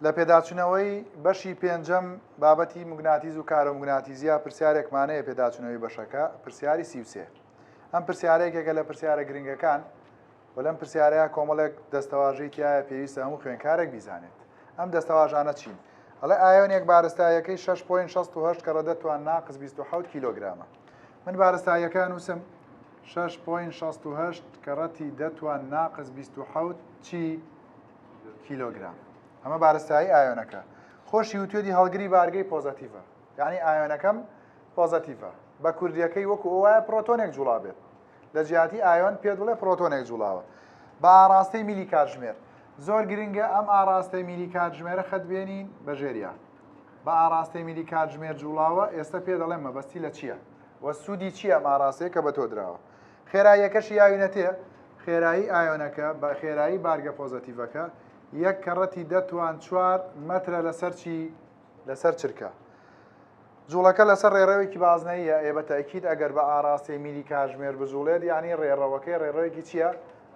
لە پێداچونەوەی بەشی پێنجەم بابەتی مگناتیز و کارۆمگناتیزیا پرسیارێکمانەیە پێداچونەوەی بەشەکە پرسیاری سیوسێ ئەم پرسیارێکێکە لە پرسیارە گرنگەکان و لەم پرسیارەیە کۆمەڵێک دەستەواژەی تایە پێویستە هەموو خوێنکارێک بیزانێت ئەم دەستەواژانە چین ئەڵێ ئایۆنێک بارستایەکەی 6.68 کە ڕەدە توان ناقز 26 کیلوگرامە من بارستایەکە نووسم 6.68 کە ڕەتی دەتوان ناقز 26 چی کیلۆگرام ئەمە بارستایی ئایۆنەکە خۆشی وتێدی هەڵگری بارگەی پۆزەتیڤە یعنی ئایۆنەکەم پۆزەتیڤە بە کوردیەکەی وەکو ئەوە پرۆتۆنێک جوڵا بێت لە جیاتی ئایۆن پێ دڵێ پرۆتۆنێک جوڵاوە بە ئاراستەی میلی کاتژمێر زۆر گرنگە ئەم ئاراستەی میلی کاتژمێرە خەت بێنین بە ژێریا بە ئاراستەی میلی کاتژمێر جوڵاوە ئێستا پێ دەڵێن مەبەستی لە چییە؟ وە سوودی چییە ماراستەیە کە بە تۆ درراوە خێراییەکەشی ئاوی نەتێ، خێرایی ئایۆنەکە بە خێرایی بارگە پۆزەتیڤەکە، یەک کەڕەتی دە توان چوار مەترە لەسەر چی؟ لەسەر چرکە. جووڵەکە لەسەر ڕێڕەوێکی بازنەییە، ئێ بە تەئکید ئەگەر بە ئاڕاستەی میلی کاژمێر بجووڵێت یانی ڕێڕەوەکەی ڕێڕەوێکی چییە؟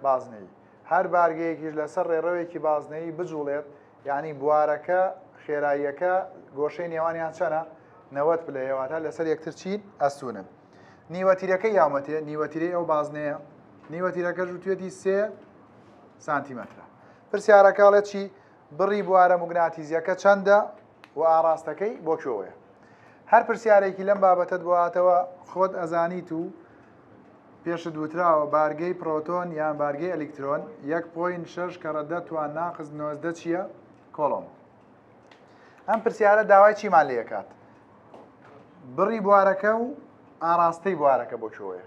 بازنەیی. هەر بارگەیەکیش لەسەر ڕێڕەوێکی بازنەیی بجووڵێت یانی بوارەکە خێراییەکە گۆشەی نێوانیان چەنە؟ نەوەد پلەیە، واتە لەسەر یەکتر چین؟ ئەستوونن. نیوەتیرەکە یامەتێ نیوەتیرەی ئەو بازنەیە نیوەتیرەکەش وتێتی سێ سانتیمەترە پرسیارەکەڵێ چی بڕی بوارە مگناتیزیەکە چەندە و ئاراستەکەی بۆ کوێوەیە هەر پرسیارێکی لەم بابەتت بواتەوە خۆت ئەزانیت و پێشت وتراوە بارگەی پرۆتۆن یان بارگەی ئەلیکترۆن 1.6 کەڕە دەتوان ناقز نۆزدە چییە کۆڵۆم ئەم پرسیارە داوای چیمان لێ کات بڕی بوارەکە و ئاراستەی بوارەکە بۆ چۆیە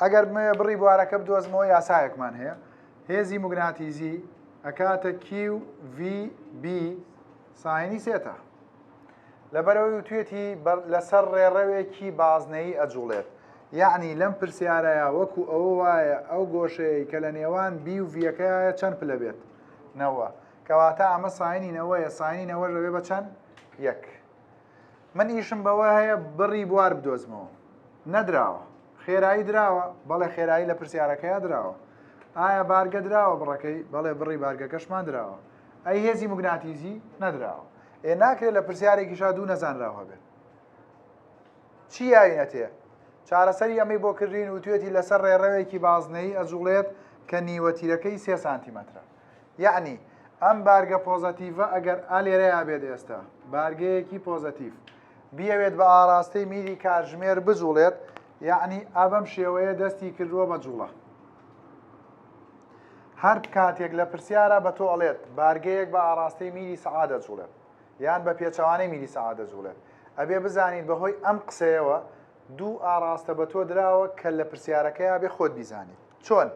ئەگەر بمەوێ بڕی بوارەکە بدۆزمەوە یاسایەکمان هەیە هێزی مگناتیزی ئەکاتە QVB ساینی سێتە لەبەرەوەی وتوێتی لەسەر ڕێڕەوێکی بازنەی ئەجوڵێت یعنی لەم پرسیارەیە وەکو ئەوە وایە ئەو گۆشەیە کە لە نێوان بی و ڤەکەیە چەند پلە بێت نەوە کەواتە ئەمە ساینی نەوەیە ساینی نەوەش دەبێ بە چەند یەک من ئیشم بەوە هەیە بڕی بوار بدۆزمەوە نەدراوە خێرایی دراوە بەڵێ خێرایی لە پرسیارەکەیا دراوە ئایا بارگە دراوە بڕەکەی بەڵێ بڕی بارگەکەشمان دراوە ئەی هێزی مگناتیزی نەدراوە ئێ ناکرێت لە پرسیارێکی شا دوو نەزانراوە بێت چی یاوینەتێ چارەسەری ئەمەی بۆ کردین و توێتی لەسەر ڕێڕەوێکی بازنەی ئەجوڵێت کە نیوەتیرەکەی سێ سانتیمەترە یعنی ئەم بارگە پۆزەتیڤە ئەگەر ئا لێرەیا بێت ئێستا بارگەیەکی پۆزەتیڤ بیاوێت بە ئاراستەی میری کاتژمێر بجوڵێت یعنی ئابەم شێوەیە دەستی کردووە بە جوڵە هەر کاتێک لە پرسیارە بە تۆ ئەڵێت بارگەیەک بە ئاراستەی میری سەعادە جوڵێت یان بە پێچەوانەی میری سەعادە جوڵێت ئەبێ بزانین بەهۆی ئەم قسەیەوە دوو ئاراستە بە تۆ دراوە کە لە پرسیارەکەیا بێ خۆت بیزانیت چۆن؟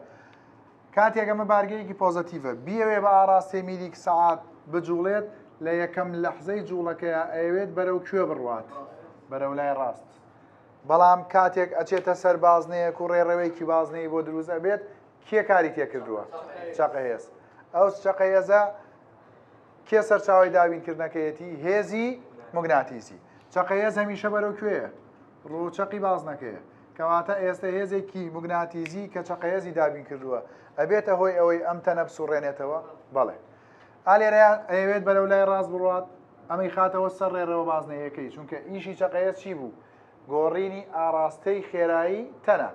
کاتێک ئەمە بارگەیەکی پۆزەتیڤە، بیەوێ بە ئاڕاستەی میلیک سەعات بجوڵێت، لە یەکەم لەحزەی جوڵەکەیا ئەیەوێت بەرەو کوێ بڕوات؟ بەرەو لای ڕاست. بەڵام کاتێک ئەچێتە سەر بازنەیەک و ڕێڕەوێکی بازنەیی بۆ دروست ئەبێت، کێ کاری تێکردووە؟ چەقەهێز. ئەو چەقەهێزە کێ سەرچاوەی دابینکردنەکەیەتی؟ هێزی موگناتیسی. چەقەهێز هەمیشە بەرەو کوێیە؟ ڕووچەقی بازنەکەیە. کەواتە ئێستە هێزێکی موگناتیزی کە چەقەێزی دابین کردووە ئەبێتە هۆی ئەوەی ئەم تەنە بسوڕێنێتەوە بەڵێ ئالێرەیان ئەیەوێت بەرەو لای ڕاست بڕات ئەمەی خاتەوە سەر ڕێڕەوە بازنەیەکەی چونکە ئیشی چەقەیە چی بوو گۆڕینی ئاراستەی خێرایی تەنە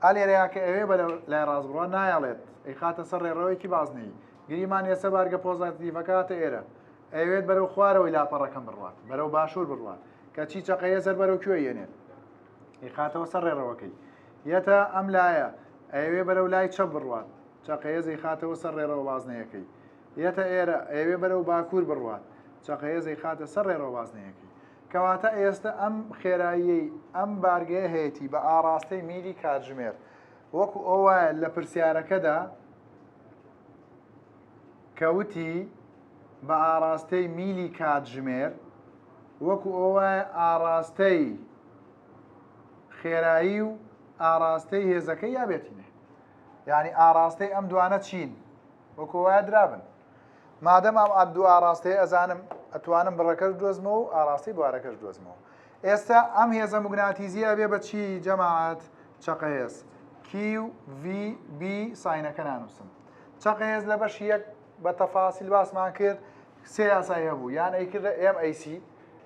ئالێرەیە کە ئەوێ بە لای ڕاستبڕە نایەڵێت ئەی خاتە سەر ڕێڕەوەیەکی بازنەی گریمان ێسە بارگە پۆزاتیڤەکاتە ئێرە ئەوێت بەرەو خوارەوەی لاپەڕەکەم بڕات بەرەو باشوور بڕات کە چی چەقەیە سەر بەرەو کوێ یەنێت ئیخاتەوە سەر ڕێڕەوەکەی یەتە ئەم لایە ئەوێ بەرەو لای چە بڕوات چەقەیە زەیخاتەوە سەر ڕێڕەوە بازنەیەەکەی یەتە ئێرە ئەوێ بەرەو باکوور بڕوات چەقەیە زەیخاتە سەر ڕێڕەوە بازنەیەەکەی کەواتە ئێستا ئەم خێرایی ئەم بارگەیە هەیەی بە ئاراستەی میلی کاتژمێر وەکو ئەو وایە لە پرسیارەکەدا کە وتی، بە ئاڕاستەی میلی کاتژمێر، وەکو ئەووایە ئاڕاستەی خێرایی و ئاڕاستەی هێزەکەی یا بێتینێ. یانی ئاڕاستەی ئەم دوانە چین؟ وەکو ئەووایە درابن. مادەم ئەم ئەم دوو ئاڕاستەی ئەزانم، ئەتوانم بڕەکەش بدۆزمەوە و ئاڕاستەی بوارەکەش بدۆزمەوە. ئێستا ئەم هێزە موگناتیزیە ئەبێ بە چی جەماعەت؟ چەقە هێز. کیو، ڤی، بی ساینەکە نانووسم. چەند قێز لە بەشی یەک بە تەفاسیل باسمان کرد سێ یاسای هەبوو یان ئەیکردە MAC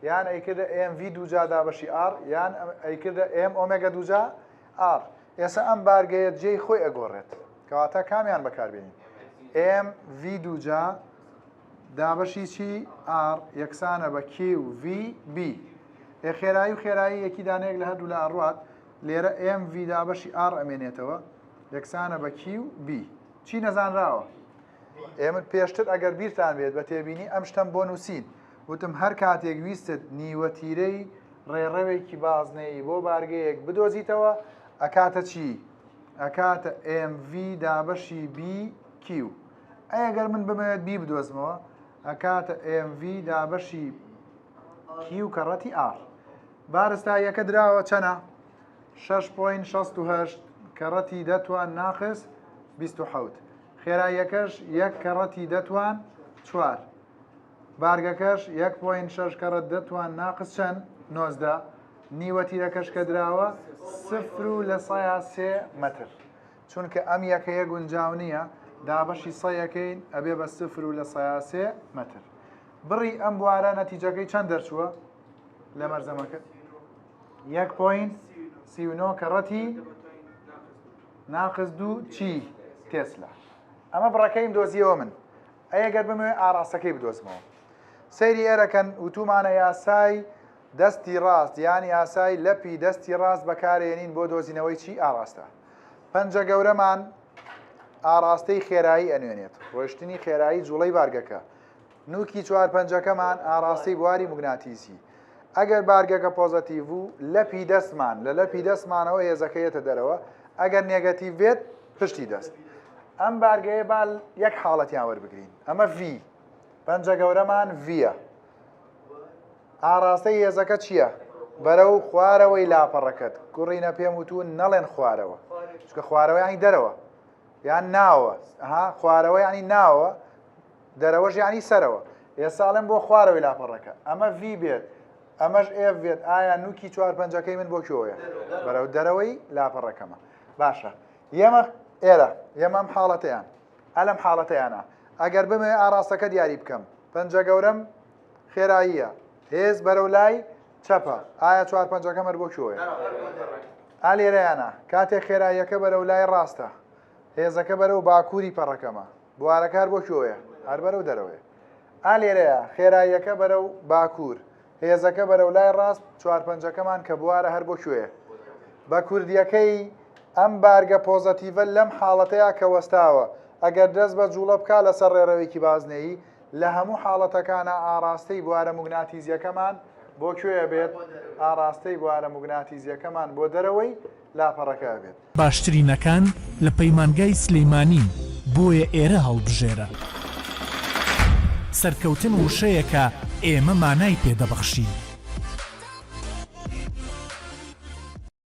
یان ئەیکردە MV دووجا دابەشی R یان ئەیکردە M ئۆمێگا دووجا R ئێستا ئەم بارگەیە جێی خۆی ئەگۆڕێت کەواتە کامیان بەکاربیین MV دووجا دابەشی چی R یەکسانە بە QV B ئێ خێرایی و خێرایی یەکی دانەیەک لە هەردوو لە ئەڕوات لێرە MV دابەشی R ئەمێنێتەوە یەکسانە بە کیو بی چی نەزانراوە ئێمە پێشتر ئەگەر بیرتان بێت بە تێبینی ئەم شتم بۆ نووسین وتم هەر کاتێک ویستت نیوە تیرەی ڕێڕەوێکی بازنەیی بۆ بارگەیەک بدۆزیتەوە ئەکاتە چی ئەکاتە MV دابەشی BQ ئەگەر من بمەوێت بی بدۆزمەوە ئەکاتە MV دابەشی کیو کەڕەتی ئار بارستا یەکە دراوە چەنە شەش پۆین شەست و هەشت کەڕەتی دە توان ناقس بیست و حەوت خێراییەکەش یەک کەڕەتی دە توان چوار بارگەکەش یەک پۆین شەش کەڕەت دە توان ناقس چەند نۆزدە نیوە تیرەکەش کە دراوە سفر و لە سایە سێ مەتر چونکە ئەم یەکەیە گونجاو نییە دابەشی سەیەکەین ئەبێ بە سفر و لە سایە سێ مەتر بڕی ئەم بوارە نەتیجەکەی چەند دەرچووە لە مەرزەمەکە یەک پۆینت سی و نۆ کەڕەتی ناقز دوو چی تێسلا ئەمە بڕەکەیم دۆزیەوە من ئەگەر بمێ ئاراستەکەی بدۆزمەوە سەیری ئێرەکەن وتومانە یاسای دەستی ڕاست یان یاسای لەپی دەستی ڕاست بەکارێنین بۆ دۆزینەوەی چی ئاراستە پەنجە گەورەمان ئاراستەی خێرایی ئەنوێنێت ڕۆشتنی خێرایی جوڵەی بارگەکە نوکی چوار پەنجەکەمان ئاڕاستەی بواری موگناتیسی، ئەگەر بارگەکە پۆزەتیڤ و لەپی دەستمان لە لەپی دەستمانەوە هێزەکە یەتە دەرەوە، ئەگەر نێگەتیڤ بێت پشتی دەست. ئەم بارگەیە با یەک حاڵەتیان وەربگرین، ئەمە ڤی، پەنجە گەورەمان ڤیە، ئاڕاستەی هێزەکە چییە؟ بەرەو خوارەوەی لاپەڕەکەت گوڕینە پێم وتون نەڵێن خوارەوە چکە خوارەوەیانی دەرەوە یان ناوە ها خوارەوەیانی ناوە دەرەوەش یانی سەرەوە ئێستا ئەڵێم بۆ خوارەوەی لاپەڕەکە ئەمە ڤی بێت ئەمەش ئێف بێت ئایا نوکی چوار پەنجەکەی من بۆ کۆیە بەرەو دەرەوەی لاپەڕەکەمە باشە یەمە ئێرە یەمەم حاڵەتیان ئەلم حاڵەتیانە ئەگەر بمێ ئاراستەکە دیاری بکەم پەنجە گەورەم خێراییە هێز بەرەو لای چەپە ئایا چوار پەنجەکە مەر بۆ کۆیە ئالێرەیانە کاتێک خێراییەکە بەرەو لای ڕاستە هێزەکە بەرەو باکووری پەڕەکەمە بوارە کار بۆ کوێیە؟ هەر بەرەو دەرەوەیە. ئا لێرەیە، خێراییەکە بەرەو باکوور، هێزەکە بەرەو لای ڕاست، چوارپەنجەکەمان کە بوارە هەر بۆ کوێیە؟ بە کوردییەکەی، ئەم بارگە پۆزەتیڤە لەم حاڵەتەیا کە وەستاوە، ئەگەر دەست بە جووڵە بکا لەسەر ڕێڕەوێکی بازنەیی، لە هەموو حاڵەتەکانا ئاڕاستەی بوارە موگناتیزییەکەمان بۆ کوێیە بێت؟ ئاڕاستەی بوارە موگناتیزییەکەمان بۆ دەرەوەی لاپەڕەکە ئەبێت. باشترینەکان لە پەیمانگای سلیمانین بۆیە ئێرە هەڵبژێرە. سەرکەوتن وشەیەکە ئێمە مانای پێ دەبەخشین.